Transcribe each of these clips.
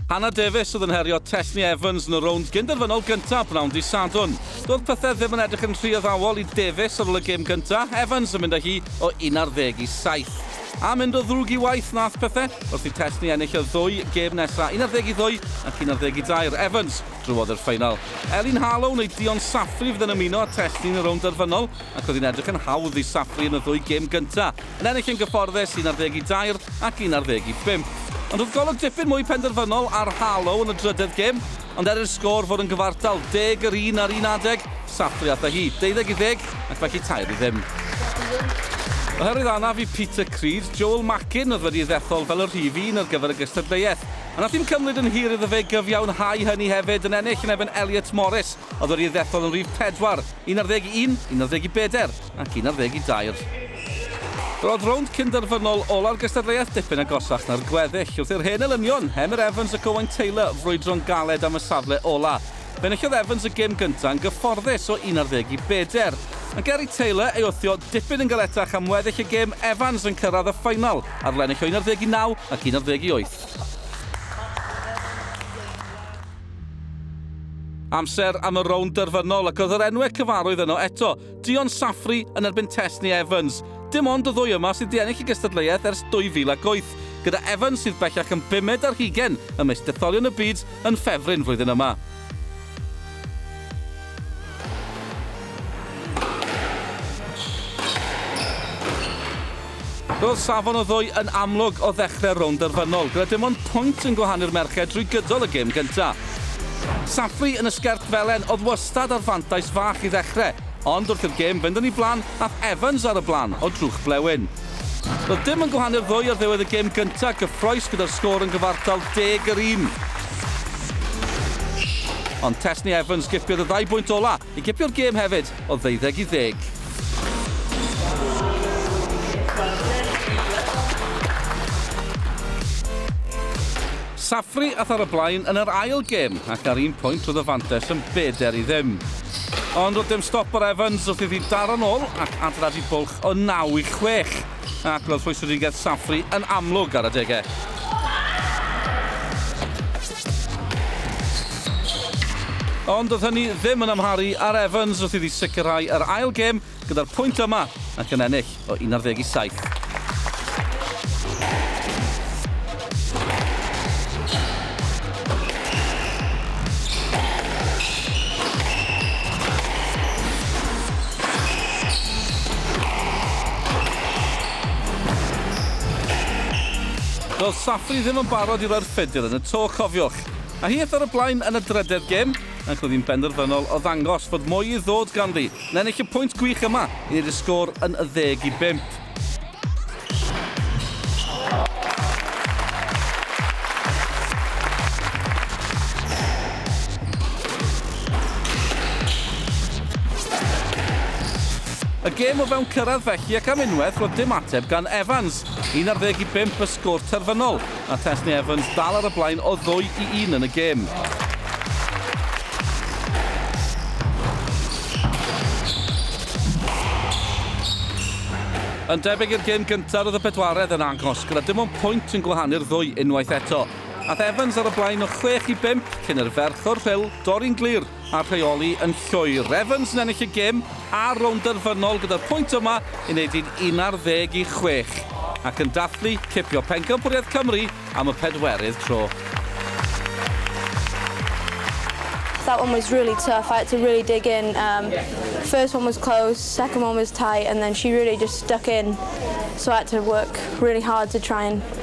Hannah Davies oedd yn herio Tessni Evans yn y rownd gynderfynol gyntaf bnawn di Sadwn. Doedd pethau ddim yn edrych yn rhy addawol i Davies ar ôl y gêm gyntaf, Evans yn mynd â hi o 11 i 7. A mynd o ddrwg i waith nath pethau wrth i Tessni ennill y ddwy gêm nesaf, 12 i 2 ac 11 i 2. Evans drwodd i'r ffeinal. Elin Harlow neu Dion Safri fydd yn ymuno â Tessni yn y rownd derfynol ac oedd hi'n edrych yn hawdd i Safri yn y ddwy gêm gyntaf. Yn ennill yn gyfforddus, un ar ddeg i dair ac un ar ddeg i bump. Ond roedd golwg dipyn mwy penderfynol ar Harlow yn y drydedd gêm, ond er i'r sgôr fod yn gyfartal deg yr un ar un adeg, sathru ata hi, deuddeg i ddeg, ac felly tair i ddim. Oherwydd anaf i Peter Creed, Joel Mackin oedd wedi ddethol fel y rhif un ar gyfer y gystadleuaeth, a wnaeth dim cymryd yn hir iddo fe gyfiawnhau hynny hefyd yn ennill yn erbyn Elliot Morris oedd wedi ddethol yn rhif pedwar, un ar ddeg i un, un ar ddeg i bedair. ac un ar ddeg i dair. Roedd rownd cynderfynol ola'r gystadleuaeth dipyn agosach na'r gweddill, wrth i'r hen elynion, Emyr Evans ac Owain Taylor, frwydro'n galed am y safle ola'. Enillodd Evans y gêm gynta' yn gyfforddus o un ar ddeg i bedair. Ond ger i Taylor ei wthio dipyn yn galetach am weddill y gêm, Evans yn cyrraedd y ffaenol ar lennill o un ar ddeg i naw ac un ar ddeg i wyth. Amser am y rownd derfynol ac oedd yr enwe cyfarwydd yno eto. Dion Safri yn erbyn Tess neu Evans. Dim ond y ddwy yma sydd wedi ennill y gystadleuaeth ers 2008, gyda Evans sydd bellach yn bumed ar hugen ym mis detholion y byd yn ffefryn flwyddyn yma. Roedd safon y ddwy yn amlwg o ddechrau'r rownd derfynol, gyda dim ond pwynt yn gwahanu'r merched drwy gydol y gêm gyntaf. Safri yn y sgert felen oedd wastad â'r fantais fach i ddechrau, ond wrth i'r gêm fynd yn ei flaen aeth Evans ar y blaen o drwch blewyn. Roedd dim yn gwahanu'r ddwy ar ddiwedd y gêm gyntaf gyffrous gyda'r sgôr yn gyfartal deg yr un. Ond Tesni Evans gipiodd y ddau bwynt ola'. I gipio'r gêm hefyd o ddeuddeg i ddeg. Safri ath ar y blaen yn yr ail gêm ac ar un pwynt roedd y fantais yn bedair i ddim. Ond roedd dim stop ar Evans wrth iddi daro'n ôl ac adeiladu bwlch o naw i chwech. Ac roedd rhwystredigaeth Safri yn amlwg ar adegau. Ond doedd hynny ddim yn amharu ar Evans wrth iddi sicrhau yr ail gêm gyda'r pwynt yma ac yn ennill o 17 i 7. Doedd Safri ddim yn barod i roi'r ffedr yn y to, cofiwch. A hith ar y blaen yn y drydedd gêm, ac roedd hi'n benderfynol o ddangos fod mwy i ddod ganddi, yn ennill y pwynt gwych yma i wneud y sgôr yn 10 i 5. Y gêm o fewn cyrraedd felly ac am unwaith roedd dim ateb gan Evans. Un ar ddeg i bump y sgôr terfynol. a Thesni Evans dal ar y blaen o ddwy i un yn y gêm. Yn debyg i'r gêm gyntaf roedd y bedwaredd yn agos, gyda dim ond pwynt yn gwahanu'r ddwy unwaith eto. Ath Evans ar y blaen o chwech i bump cyn i'r ferch o'r Rhyl dorri'n glir a rheoli yn llwyr. Evans yn ennill y gêm a'r rownd derfynol gyda'r pwynt yma i wneud hi'n 11 i chwech ac yn dathlu cipio pencampwriaeth Cymru am y pedwerydd tro. That one was really tough, I had to really dig in, um, first one was close, second one was tight and then she really just stuck in so I had to work really hard to try and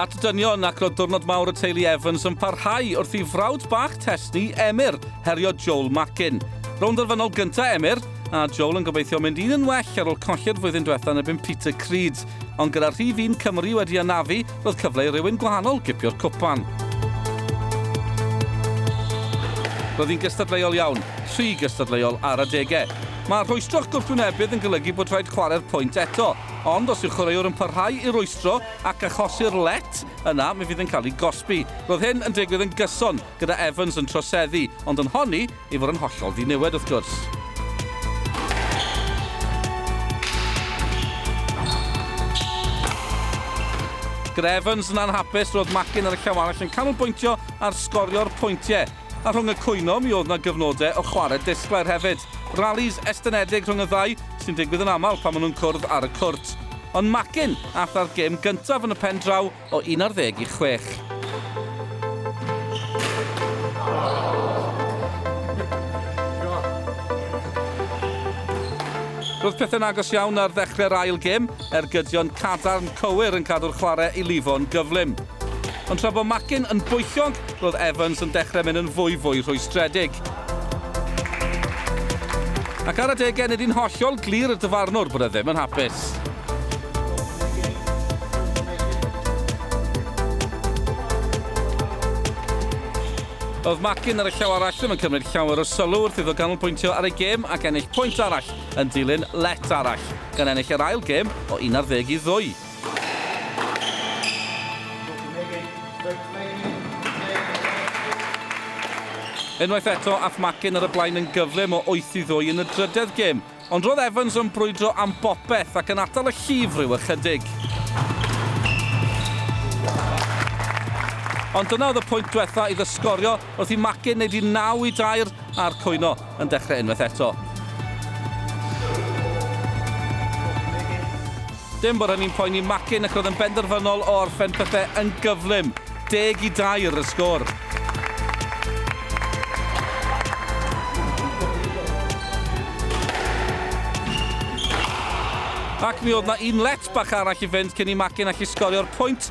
At y dynion ac roedd diwrnod mawr y teulu Evans yn parhau wrth i frawd bach Tesni, Emyr, herio Joel Mackin. Rown dderfynol gyntaf Emyr, a Joel yn gobeithio mynd un yn well ar ôl colli'r flwyddyn diwethaf yn ebyn Peter Creed. Ond gyda rhif un Cymru wedi anafu, roedd cyfle i rywun gwahanol gipio'r cwpan. Roedd hi'n gystadleuol iawn, rhy gystadleuol ar adegau. Mae rhwystro'ch gwrthwynebydd yn golygu bod rhaid chwarae'r pwynt eto. Ond os yw'r chwaraewr yn parhau i rwystro ac achosi'r let, yna mi fydd yn cael ei gosbi. Roedd hyn yn digwydd yn gyson, gyda Evans yn troseddu, ond yn honni ei fod yn hollol ddiniwed wrth gwrs. Gyda Evans yn anhapus, roedd Mackin ar y llaw arall yn canolbwyntio ar sgorio'r pwyntiau. A rhwng y cwyno, mi oedd 'na gyfnodau o chwarae disglair hefyd. Rallis estynedig rhwng y ddau, sy'n digwydd yn aml pan maen nhw'n cwrdd ar y cwrt. Ond Macin aeth â'r gêm gyntaf yn y pen draw o un ar ddeg i chwech. Roedd pethau'n agos iawn ar ddechrau'r ail gêm, ergydion cadarn cywir yn cadw'r chwarae i lifo'n gyflym. Ond tra bod Mackin yn bwyllog, roedd Evans yn dechrau mynd yn fwy fwy rhwystredig. Ac ar adegau, nid yn hollol glir i'r dyfarnwr bod e ddim yn hapus. Oedd Mackin ar y llaw arall ddim yn cymryd llawer o sylw wrth iddo ganolbwyntio ar ei gêm ac ennill pwynt arall yn dilyn let arall, gan ennill yr ail gêm o 11 i ddwy. Unwaith eto, ath Mackin ar y blaen yn gyflym o wyth i ddwy yn y drydedd gêm, ond roedd Evans yn brwydro am bopeth ac yn atal y llif ryw ychydig. Ond dyna oedd y pwynt diwetha' iddo sgorio wrth i Mackin wneud i naw i dair a'r cwyno. yn dechrau unwaith eto. Dim bod hynny'n poeni Mackin ac roedd yn benderfynol o orffen pethau yn gyflym. Deg i dair y sgôr. Ac mi oedd na un let bach arall i fynd cyn i Mackin allu sgorio'r pwynt